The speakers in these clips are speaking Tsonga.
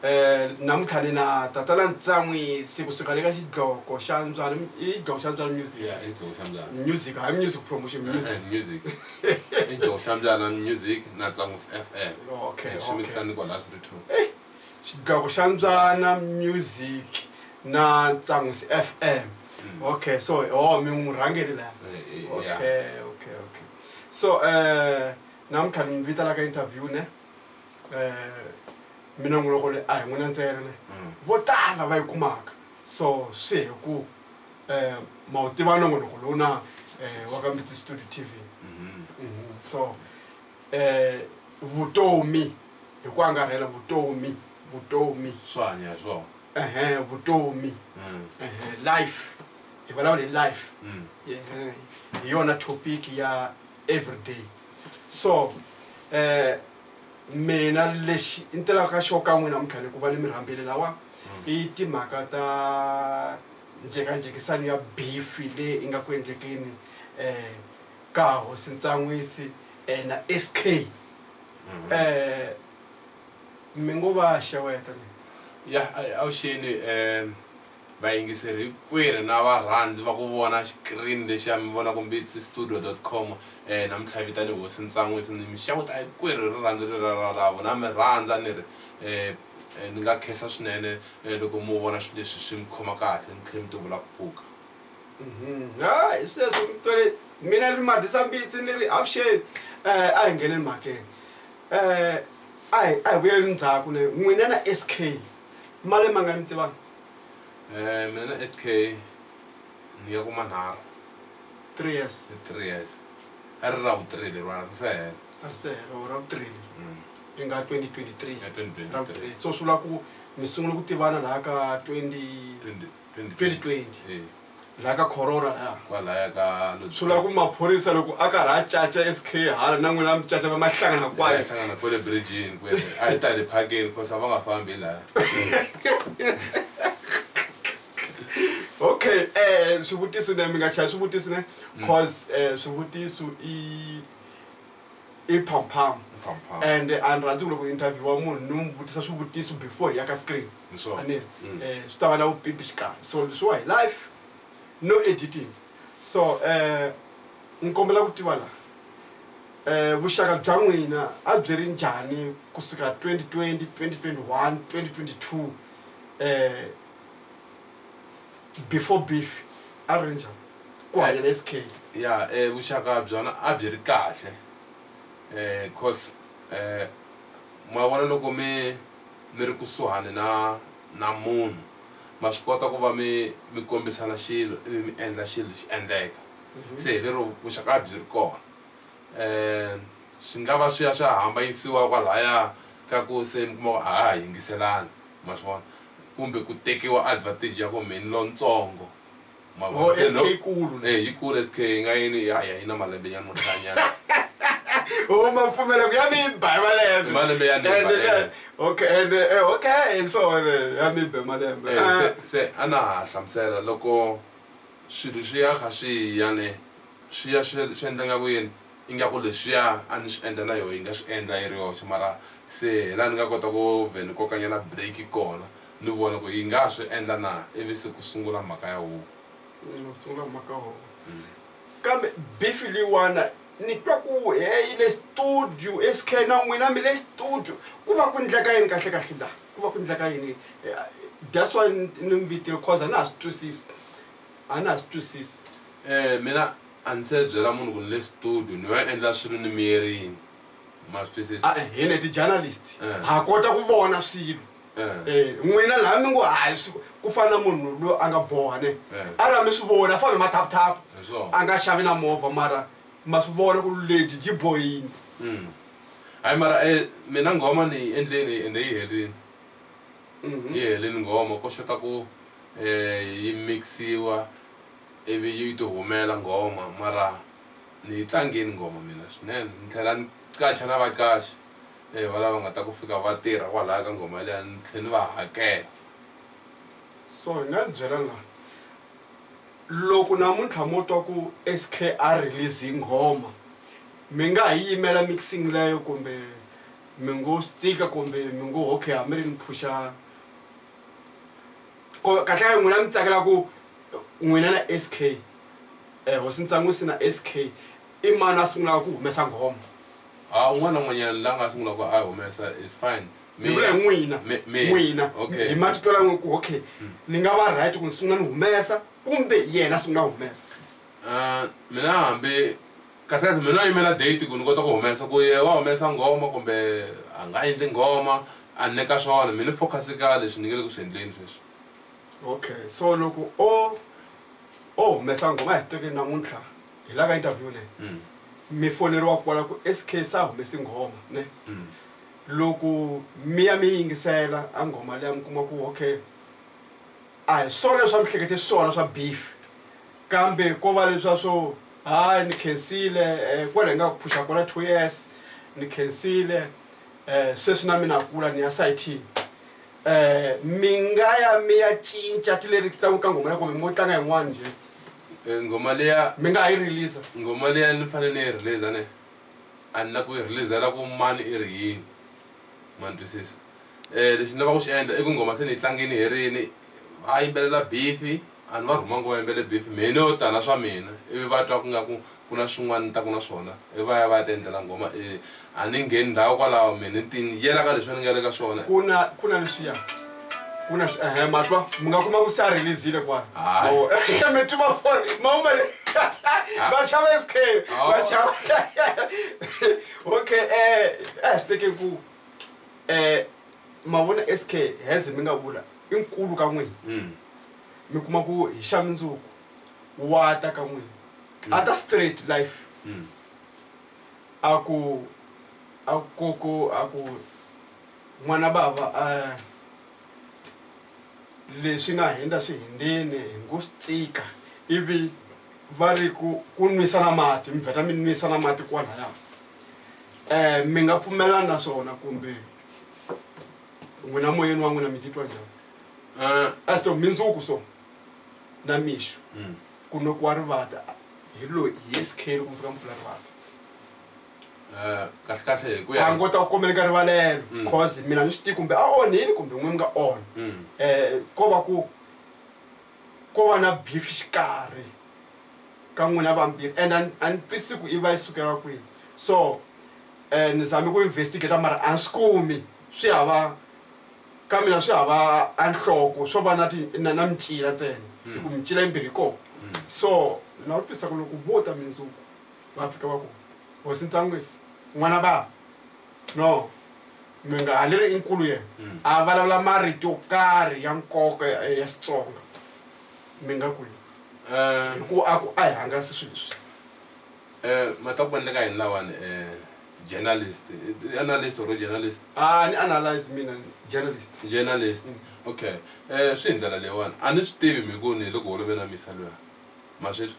Eh, namuntlha ni na tatana ntsan'wisi kusuka le ka xidloko xa ntswalo i xidloko xa ntswalo music ya i dzogo xa mbyana music hayi music promotion music Eh, music i dzogo xa mbyana music na tsangus fm Okay, Eh, swi okay. mikisani kwa la swi ri two xidloko xa ntswana music na ntsan'wis fm okay so o mi n'wi rhangeli laya Eh, eh, yeah. okay okay okay so um namuntlha ni mi vitana ka interview ne um mina n'wi loko le a hi n'wina ntsena ne mm. vo tala va yi kumaka so swi hi ku um ma wu tiva nongonoko lowu na um wa ka mbiti studio t v mm-hmm. mm-hmm. so um vutomi hi ku angarhela vutomi vutomi swo hanya hi swona ehe vutomi mm. ehe life hi vulavula hi life mm. hi yona topic ya everyday so eh mina lexi ni telaka ka xo ka n'wina mintlhani ku va ni mi rhambile lawa i timhaka ta njhekanjhekisano ya bifi leyi i nga ku endlekeni um ka hosi ntsan'wisi um na s k um mi ngo va xeweta ya avuxeni um Vayingiseri hinkwerhu na varhandzi va ku vona xikirini lexiya mi vona Kombetsi Studio dot com eh namuntlha hi vitane Hosi Ntsan'wisi ni mi xeweta hinkwerhu hi rirhandzu leriya ra lavo na mi rhandza ni ri eh eh ni nga khensa swinene eh loko mo vona swilo leswi swi mi khoma kahle ni tlhela mi tivula ku pfuka. Ha hi sweswo mi twele mina ni ri Madisa Mbitsi ni ri avuxeni eh a hi ngheneni mhakeni eh a hi a hi vuyeleni ndzhaku n'wina na SK male mangani mi tivana. Eh, mina na SK ni ya ku manharhu three years hi three years a ri ra vutirhi leriwana ri se hela a ri se hela or ra vutirhi Mm. ri nga 2023 Ya 2023. ra vutirhi so swi vula ku mi sungule ku tivana laha ka 20 Twenty- twenty- 2020. Eh. laha ka corona laha kwalaya ka Lodzi- swi lava ku maphorisa loko a karhi a caca sk hala na n'wina mi caca va ma hlangana Ya kwayo hlangana kwale bridgini kwele a yi tali phakeni cause a va nga fambi laha okay um swivutiso ne mi nga chaya swivutiso ne cause um swivutiso i i phamphamu Phamphamu. and a ni rhandzi ku loko interviewa munhu ni n'wi vutisa swivutiso before hi ya ka screen aniri mm. eh, swi ta va na vupimpi xikarhi so leswiwa hi life no editing so um eh, ni kombela ku tiva laha um vuxaka bya n'wina a byi ri njhani kusuka 2020 2021 2022 um before beef a ri ri njhani ku hanya na sk ya um vuxaka byona a byi ri kahle um cause um ma vona loko mi mi ri kusuhani na na munhu ma swi kota ku va mi mi kombisana xilo ivi mi endla xilo xi endleka se hi lero vuxaka a byi ri kona um swi nga va swi ya swi ya hambanyisiwa kwalaya ka ku se mi kuma ku a ha ha yingiselani ma swi vona kumbe ku tekiwa advantage ya ku mehe ni lontsongo. Ma vona? Oh, Se SK loko- ikulu. Eh, yi kule sk yi nga yini ya ya yi na malembe nyana mo hlanyana o ma pfumela ku ya mi ba hi malembe Hi malembe ya ni ba, And, eh. eh, okay and eh, eh, okay and so on eh, ya mi ba malembe Eh, Ah, se- se a na ha hlamusela loko swilo swi ya kha swi ya ne swi ya swi swi endla nga ku yini ingaku leswiya a ni swi endla na yoho yi nga swi endla yi ri yoxe mara se hi laha ni nga kota ku vhe ni kokanyana break kona ni vona ku yi nga ha swi endla na ivi se ku sungula mhaka ya huvo. Ku sungula mhaka ya huvo. Kambe bifi leyiwana ni twa ku he yi le studio SK na n'wina mi le studio ku va ku ndleka yini kahle kahle la ku va ku ndleka yini that's why ni mi vitile cause a na ha swi twisisi a na ha swi twisisi. Mina a ni se byela munhu ku ni le studio ni yo endla swilo ni miyerini ma swi twisisa. Hina hi ti journalist ha kota ku vona swilo. Eh, n'wina laha mi ngo hayi swi- ku fana na munhu loyi a nga boha ne Eh. a ra mi swi vona a fambe mathaphutaphu Hi swona. a nga xavi na movha mara ma swi vona ku lady byi bohini Mm. hayi mara eh, mina nghoma ni yi endleni ende yi herini Mhm. yi helini nghoma ko xota ku eh, yi mixiwa ivi yi ti humela nghoma mara ni yi tlangeni nghoma mina swinene ni tlhela ni qacha na vaqaxi eyi valava va nga ta ku fika va tirha kwalaya ka nghoma liya ni tlhe ni va hakela so hi nga ni byela nga loko namuntlha mo twa ku s k a release hi nghoma mi nga ha yi yimela mixing leyo kumbe mi ngo swi tsika kumbe mi ngo okay hambi ri ni phuxa kahlekahle n'wina mi tsakela ku n'wina na s k um eh, hosi ntsangu si na s k i mani a sungulaka ku humesa nghoma a un'wana na un'wanyana la nga sungulaka a humesa is fine ni vula hi n'wina n'wina hi matitwa lan'we ku okay hmm. ni nga va right ku ni sungula ni humesa kumbe yena sungula humesa ah, mina hambi kahlekahle mina a yimela date ku ni kota ku humesa ku ye wa humesa nghoma kumbe a nga endli nghoma a ni ka swona mi ni focus ka leswi ni nge le ku swi endleni sweswi okay so loko o o humesa nghoma hi tekeni namuntlha hi la ka interview ne mm. mi foneriwa kwala ku sk sa humesi nghoma ne mm. loko mi ya mi yingisela a nghoma leya mi kuma ku okay a hi swona leswi a mi hlekete swona swa beef kambe ko va leswa swo hayi ni khensile eh, kwala hi nga ku phusha kona two years ni khensile um sweswi na mina kula ni ya sitini um eh, mi nga ya mi ya cinca ti-lyrics ta ku ka nghoma ya kumbe mo tlanga yin'wana njhe Eh, ngoma leya mi nga ha yi release ngoma leya ni fanele ni yi release ne a ni la ku yi releasela ku mani i ri yini ma ni twisisa um lexi ni lava ku xi endla i ku ngoma se ni yi tlangini herini va yimbelela bifi a ni va rhuma ngo va yimbele bifi mehe ni yo tala swa mina ivi va twa ku nga ku Ku na swin'wana ni taka na swona. I va ya va ya ti endlela nghoma e. A ni ngheni ndhawu kwalaho mina ni ti yela ka leswi a ni nga le ka swona. Ku na ku na leswiya ku na swi ehe ma twa mi nga kuma ku se a release-ile kwala Hayi. mavona mi tiva for ma huma le va chava SK va chava okay eh a hi swi teke ku eh ma vona SK as mi nga vula i nkulu ka n'wina mi kuma ku hi xa mundzuku wa ta ka n'wina a ta straight life Mm. a ku a ku ku a ku n'wana bava a leswi nga hindza swi hindzini hi ngo swi tsika ivi va ri ku ku nwisa na mati mi vheta mi nwisa na mati kwalaya um mi nga pfumelani na swona kumbe n'wina moyeni wa n'wina mi titwa njhani Eh, a swi to mindzuku so na mixo mm. ku nwekiwa rivata hi loyi hi yesikheri ku fika mpfula rivata eh, kahle kahle hi ku ya a ngo ta ku komeleka rivalelo mm. cause mina ni swi tivi kumbe a onhini kumbe n'we mi nga onha um mm. eh, ko va ku ko va na beef xikarhi ka n'wina vambirhi and a ni twisi ku i va yi sukela kwihi so um ni zame ku investigata mara a ni swi kumi swi hava Ka mina swi hava a nhloko swo va na ti na na micila ntsena hi ku micila yimbirhi yi kona so ni nga vutisa ku loko vo ta mindzuku va fika va ku hosi ntsan'wisi n'wana va no mi nga ha ni ri i nkulu yena a vulavula marito yo karhi ya nkoka ya ya xitsonga mi nga ku yini hi ku a ku a hi hangalasi swilo leswi Eh, mataku ni le ka yini lawani eh, journalist eh, analyst or journalist ah ni analyze mina journalist journalist okay eh swi hi ndlela leyiwani a ni swi tivi mi ku ni le ku holoveni a misa luya ma swi twa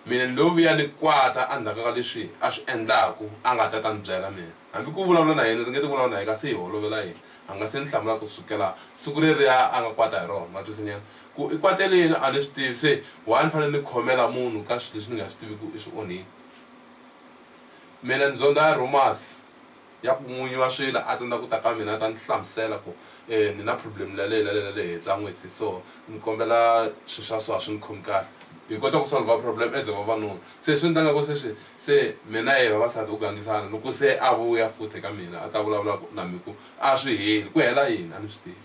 mina ni lo vuya ni kwata endzhaku ka leswi a swi endlaku a nga ta ta ni byela mina hambi ku vulavula na yena ri nge ti vulavula na yena kasi hi holovela yena a nga se ni hlamula ku sukela siku reriya a nga kwata hi rona ma twisinyana Ku i kwatele yini a ni swi tivi se why ni fanele ni khomela munhu ka swilo leswi ni nga swi tivi ku i swi onhile. Mina ni zondha ya rumors ya ku n'winyi wa swilo a tsandza ku ta ka mina a ta ni hlamusela ku ni na problem la leyi na leyi na leyi hi tsan'wisi so ni kombela swilo swa so a swi ni khomi kahle hi kota ku solver problem as vavanuna se swi endlaka ku sweswi se me na yehe vavasati ho gangisana loko se a vuya futhi ka mina a ta vulavula ku na mina ku a swi heli ku hela yini a ni swi tivi.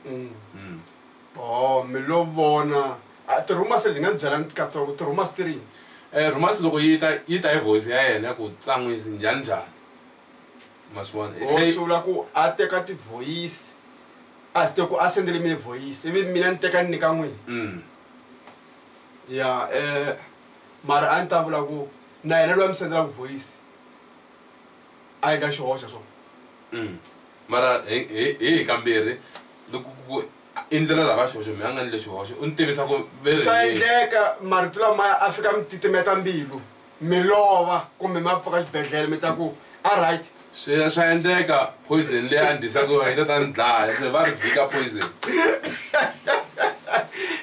Mm. Mm. Oh, mi lo vona Ah, ti-rumors leti nga ni byela katsongo ti-rumors ti rini Eh, romance loko yi ta yi ta hi voice ya yena ku tsan'wisi njhani njhani ma swi vona Hi tlhe yi- sula ku a teka tivhoyisi a swi tiva ku a sendele mi vhoyisi ivi mina ni teka ni nyika n'wini Mm. ya um mara a ni ta vula ku na yena loyi a mi sendelaku vhoyisi a yi ka xihoxa swona mm. mara hi hi kambirhi loko ku i ndlela lava xihoxo mi a nga ni le xihoxo u ni tivisa ku swa endleka marito lamaya a fika mi titimeta mbilu mi lova kumbe ma pfuka xibedhlele mi ta ku a right swi swa endleka poison leyi a ndisaka yona yi ta ta ni dlaya se va ri jika poison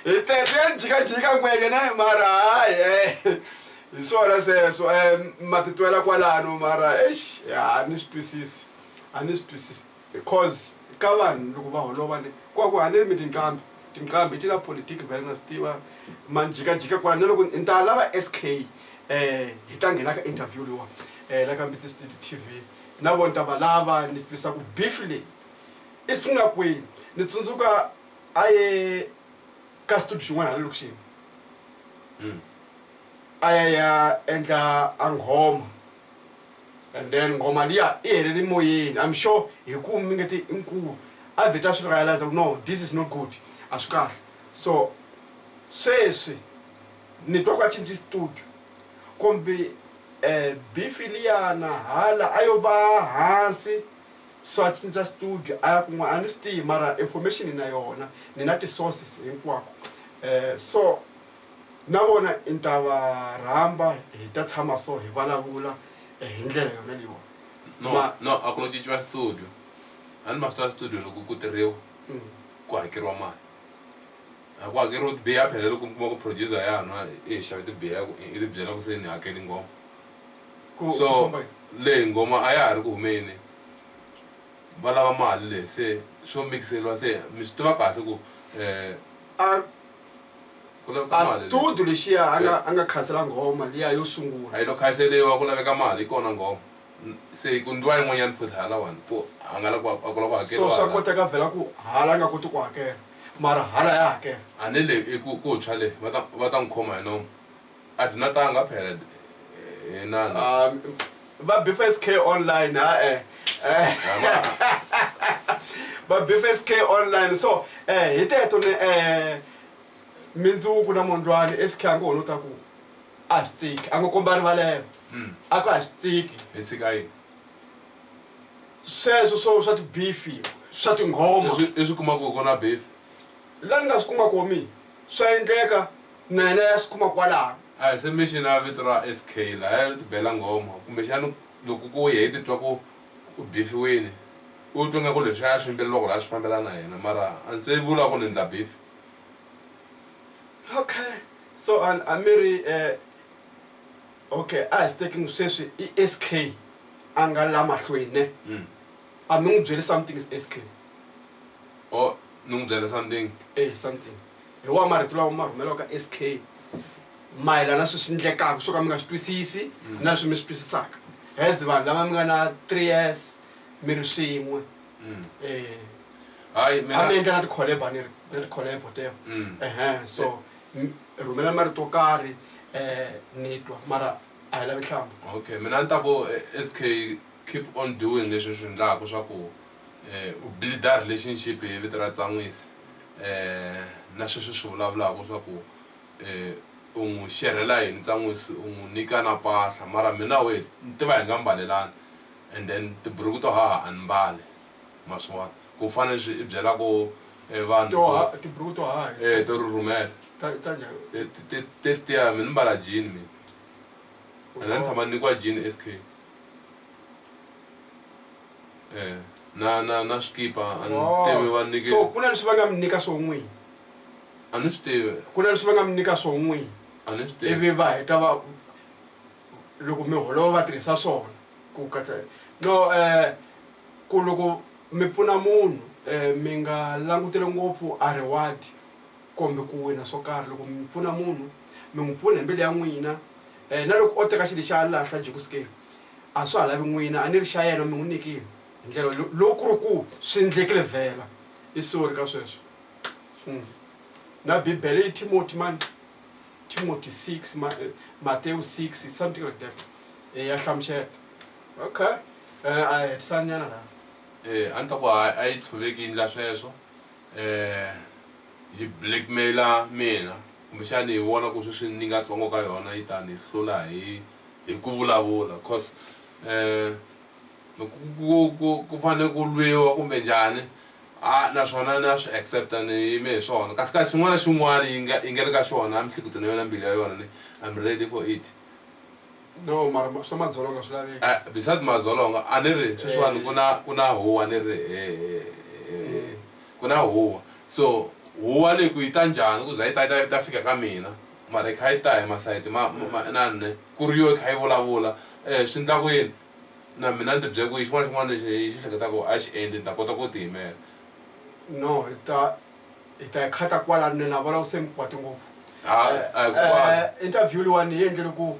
hi tete ya ni jikajika ngwenya na hi mara hayi hi swona sweswo um ma titwela kwalano mara exi ya a ni swi twisisi a ni swi twisisi because ka vanhu loko va holova ni ku va ku haneri mi tinqambi tinqambi ti na politiki vhele na swi tiva manjikajika kwala na loko ni ta lava s k um hi ta nghena ka interview leyiwa um la ka mbitsi studio t v na vona ta va lava ni twisa ku beef leyi i sungula kwini ni tsundzuka a ye ka studio xin'wana hala lokixini a ya ya endla a nghoma and then nghoma liya i helele moyeni i'm sure hi ku mi nge ti i nkulu a vheta a swi realize ku no this is not good a swi kahle so sweswi ni twa ku a cinci studio kumbe um bifi liyana hala a yo va hansi so a cinca studio a ya kun'wana a ni swi tivi mara information na yona ni na ti-sources hinkwako um so na vona i ni ta va rhamba hi ta tshama so hi vulavula eh, hi ndlela yona leyiwani no Ma- no a ku no cinciwa studio a ni ma swi tiva studio loko ku tirhiwa Mm. ku hakeriwa mali a ku hakeriwa tibiya ya phela loko mi kuma ku producer ya nwa i hi xave tibiya ya ku i ti byela ku se ni hakeli ngoma Ku- ku so famba hi- leyi ngoma a ya ha ri ku humeni va lava mali leyi se swo mikiseriwa se mi swi tiva kahle ku um a ku laveka mali leyi. astudu lexiya a nga a nga khansela nghoma liya yo a sungula yi lo khanseriwa ku laveka mali hi kona nghoma N- se hi ku ndliwa yin'wanyana futhi halawani ku a nga la ku a ku la ku so hakeriwa swa hala. koteka vhela ku hala a nga koti ku hakela mara hala ya hakela a ni le i ku ku tshwa le va ta va ta n'wi khoma hi nomu a byi natanga phela eh, inana Ah, va bfsk online ha eh Eh, va bfsk online so eh hi teto ni eh mindzuku na mondlwani esikhe a ngo ho no ta ku a swi tsiki a ngo komba rivalelo Mm. a ku a swi tsiki hi tshika yini sweswo swo swa tibifi swa tinghoma Leswi- leswi kumaka ku na beef la ni nga swi kuma komi swa endleka Na yena ya swi kuma kwalano. A hi se mi xi na vito ra SK laya ri ti bela nghoma. Kumbexana loko ku ya hi titwa ku u bifiwile, u twa ngaku leswiya a swi yimbeleriwaku laya swi fambelana na yena mara a ni se vula ku ni ndla bifi. Okay, so a a mi ri okay a hi swi teki ku sweswi i SK a nga la mahlweni ne? A mi n'wi byeli something SK. Oh ni n'wi byela something? Eya something. hi wa marito lawa ma rhumeliwaka sk mayelana swi swi ndlekaka swo ka mi nga swi twisisi mm. na swi mi swi twisisaka as vanhu lava mi nga na three years mi ri swin'we mm. eh. hayi mi endla na tikholeba ni ri na tikholebo tevo mm. ehe so rhumela marito yo karhi um ni twa mara a hi lavi hlamba okay mina ni ta ku eh, sk keep on doing leswi swi endlaka swa ku um u builda relationship hi vito ra tsan'wisi eh, na sweswi swi vulavulaka swa ku eh, u n'wi xerhela yini tsan'wisi u n'wi nyika na pahla mara mina we ni tiva hi nga mbalelani and then tiburuku to haha a ni mbale ma swi vona ku fana leswi i byelako eh, vanhu to ha tiburuku to haha eh, to rurhumela ta ta njhani Eh, ti- ti- ti- tiya mi ni mbala jini mina and a ni tshama ni nyikiwa jini sk eh, na na na swikipa a ni Oh, tivi va nike so ku na leswi va nga mi nyika swo n'wini a ni swi tivi ku na leswi va nga mi nyika swo n'wini a ni swi tivi ivi va heta va loko mi holova va tirhisa swona ku katsa no um ku loko mi pfuna munhu um mi nga languteli ngopfu a reward kumbe ku wina swo karhi loko mi pfuna munhu mi n'wi pfuna hi mbilu ya n'wina um na loko o teka xilo xa lahla jekusikeni A swa ha lavi n'wina, a ni ri xa yena, mi n'wi nyikile hi ndlela yo loko ku ri ku swi ndlekile vhela i sorry ka sweswo. Umm na Bibele yi Timoti mani, Timoti six, Matewu six, something like that, e ya hlamusela. Ok, eh, a hi hetisani nyana laha. E, a ni ta ku hayi, a yi tlhuveki yi ndla sweswo, eh, yi blackmail-a mina, kumbexani yi vona ku sweswi ni nga tsongo ka yona yi ta ni hlula hi. hi ku vulavula cause ku fanele ku lwiwa kumbe njhani a naswona na swi accepta ni yime hi swona kasi kasi xin'wana na xin'wana yi nga yi nga le ka xona mihleketweni ya yona mbilu ya yona ni I'm ready for it no mara swa madzolonga swi laveka eh, besides madzolonga a ni ri sweswiwani ku na ku na huwa ni ri ku na huwa so huwa leyi ku yi ta njhani ku za yi ta ta ta fika ka mina mara yi kha yi ta hi masayiti ma ma na nne ku ri yo yi kha yi vulavula swi ndla ku yini na mina ni ti bye ku yi xin'wana xin'wana lexi yi xi hleketa ku a xi endli ni ta kota ku ti yimela no hi ta hi ta yi khata kwala nne na vona ku se mi kwati ngopfu interview leyiwani yi endlele ku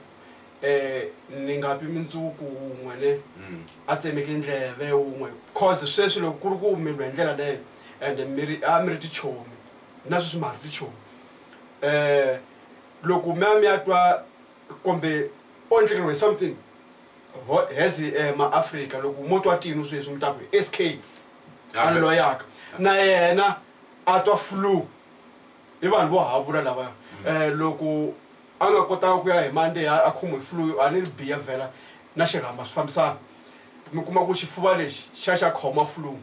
um ni nga twi mindzuku wun'we ne hmm. a tsemeke ndleve wun'we cause sweswi loko ku ri ku mi lwe hi ndlela leyo and mi ri a mi ri tichomi na sweswi ma ha ri tichomi eh loko mi ya mi ya twa kumbe o endlekeriwe something ho- as eh, maafrika loko mo twa tino sweswi mi ta ku sk a ni loyaka na yena a twa flu i vanhu vo havula lava um loko a nga kotanga ku ya hi mande a khomiwe flu a ni ri biya vhela na xirhamba swi fambisana mi kuma ku xifuva lexi xa xa khoma flu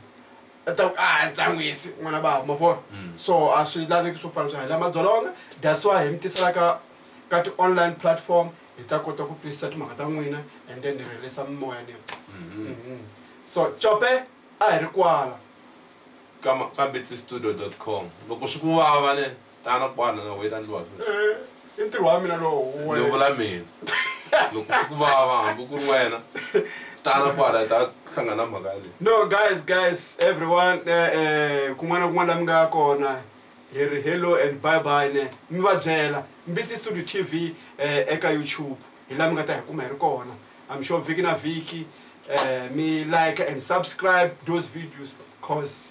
ta ku a ah, ntsangwisi n'wana bava ma vona mm. so a swi laveki swo fana swa hi la madzolonga that's why hi mi tisela ka ka ti-online platform hi ta kota ku twisisa timhaka ta n'wina and then hi rhelisa mimoya ni mm-hmm. mm-hmm. so cope a hi ri kwala ka betsystudio com loko swi ku vava ne tana kwani nga wait andliwa sweswi Eh, i ntirho wa mina lowu ni wena. vula mina loko swi ku vava hambi ku ri wena tana kwala hi ta hlangana mhaka leyi no guys guys everyone eh, eh, kun'wana na kun'wana la mi nga kona hi ri hello and bye bye ne mi va byela mbitsi studio tv eh, eka youtube hi la mi nga ta hi kuma hi ri kona i'm sure vhiki na vhiki eh, mi like and subscribe those videos cause